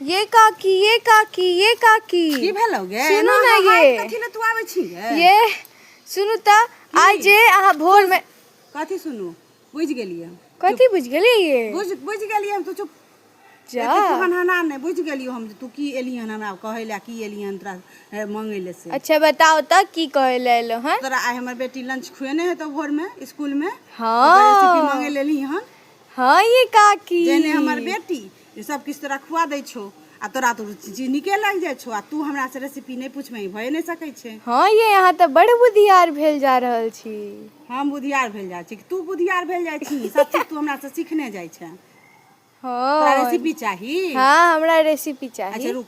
ये काकी ये काकी ये काकी की भेलौ गे सुनू एना ने हमरा ये। हाथ कथी ले तू आबै छी गे ये सुनू त आइ जे अहाँ भोर में कथी सुनू बुझ गेलियै हम। कथी बुझ गेली ये बुझ बुझ गेलियै हम तू चुप जा एते तू हनहना नहि बुझ गेलियो हम जे तू की एलियै हन हमरा कहै लए की एलियै हन तोरा ए, मंगै लए से अच्छा बताओ त की कहे ले एलो हैं तोरा आइ हमर बेटी लंच खुएने हेतौ भोर में स्कूल में हाँ। रेसिपी मंगै लेली हन हाँ ये काकी जेने हमर बेटी जे सब किछु तोरा खुआ दै छौ आ तोरा तो चीज नीके लागि जाइ छौ आ तू हमरा से रेसिपी नहि पूछमे ई भए नहि सकै छै हँ ये अहाँ तऽ बड़ बुधियार भेल जा रहल छी हम बुधियार भेल जाइ छी कि तू बुधियार भेल जाइ छी सब चीज तू हमरा से सीखने जाइ छै तोरा हँ रेसिपी चाही हँ हमरा रेसिपी अच्छा चाही रुक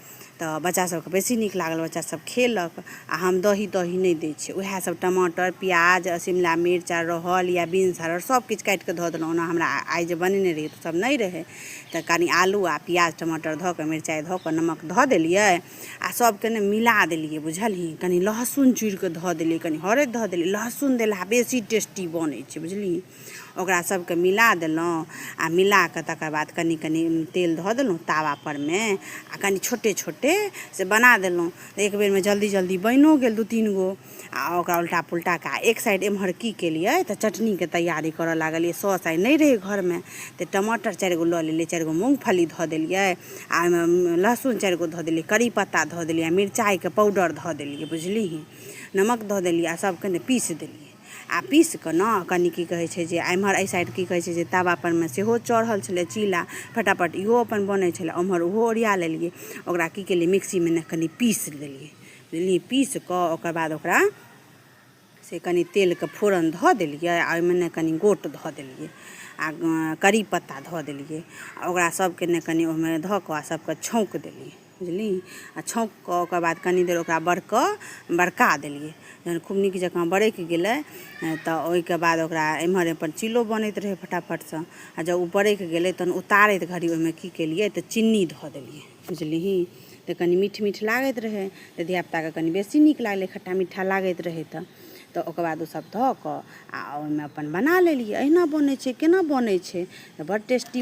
तऽ बच्चा सबके बेसी नीक लागल बच्चा सब खेलक आ हम दही तही नहि दै छियै उएह सब टमाटर प्याज शिमला मिर्च आ रहल या बीन्स हर सब किछु काटि कऽ धऽ देलहुँ ओना हमरा आइ जे बनेने रहियै तऽ सब नहि रहै तऽ कनी आलू आ प्याज टमाटर धऽ कऽ मिरचाइ धऽ कऽ नमक धऽ देलियै आ सबके ने मिला देलियै बुझलही कनी लहसुन चूरि कऽ धऽ देलियै कनी हरैद धऽ देलियै लहसुन देलहा बेसी टेस्टी बनै छै बुझलियै ओकरा सबके मिला देलहुँ आ मिला कऽ तकर बाद कनि कनि तेल धऽ देलहुँ तावा परमे आ कनि छोटे छोटे से बना देलहुँ तऽ एक बेरमे जल्दी जल्दी बनिओ गेल दू तीन गो आ ओकरा उल्टा पुल्टा कऽ आ एक साइड एम्हर की केलियै तऽ चटनीके तैयारी करऽ लागलियै सॉस आइ नहि रहै घरमे तऽ टमाटर चारि गो लऽ लेलियै चारि गो मूँगफली धऽ देलियै आ ओहिमे लहसुन चारि गो धऽ देलियै करी पत्ता धऽ देलियै आ मिरचाइके पाउडर धऽ देलियै बुझलिही नमक धऽ देलियै आ सभके ने पीस देलियै आ पीसि कऽ ने कनि की कहै छै जे एम्हर एहि साइड की कहै छै जे तवापर मे सेहो चढ़ल छलै चीला फटाफट इहो अपन बनै छलै ओम्हर ओहो ओरिया लेलियै ओकरा की केलियै मिक्सीमे ने कनि पीसि देलियै बुझलियै पीसि कऽ ओकर बाद ओकरा से कनि तेलके फोरन धऽ देलियै आ ओहिमे ने कनि गोट धऽ देलियै आ करी पत्ता धऽ देलियै आ ओकरा सभके ने कनि ओहिमे धऽ कऽ आ सभके छौँक देलियै बुझली आ छौँक कऽ ओकर बाद कनी देर ओकरा बड़कऽ बड़का देलियै जहन खूब नीक जकाँ बड़कि गेलै तऽ ओहिके बाद ओकरा एम्हर अपन चिल्लो बनैत रहै फटाफटसँ आ जब ओ बड़कि गेलै तहन उतारैत घड़ी ओहिमे की केलियै तऽ चीनी धऽ देलियै बुझलिही तऽ कनी मीठ मीठ लागैत रहै तऽ धियापुताके कनी बेसी नीक लागलै खट्टा मीठा लागैत रहै तऽ तऽ ओकर बाद ओसभ धऽ कऽ आ ओहिमे अपन बना लेलियै अहिना बनै छै केना बनै छै तऽ बड़ टेस्टी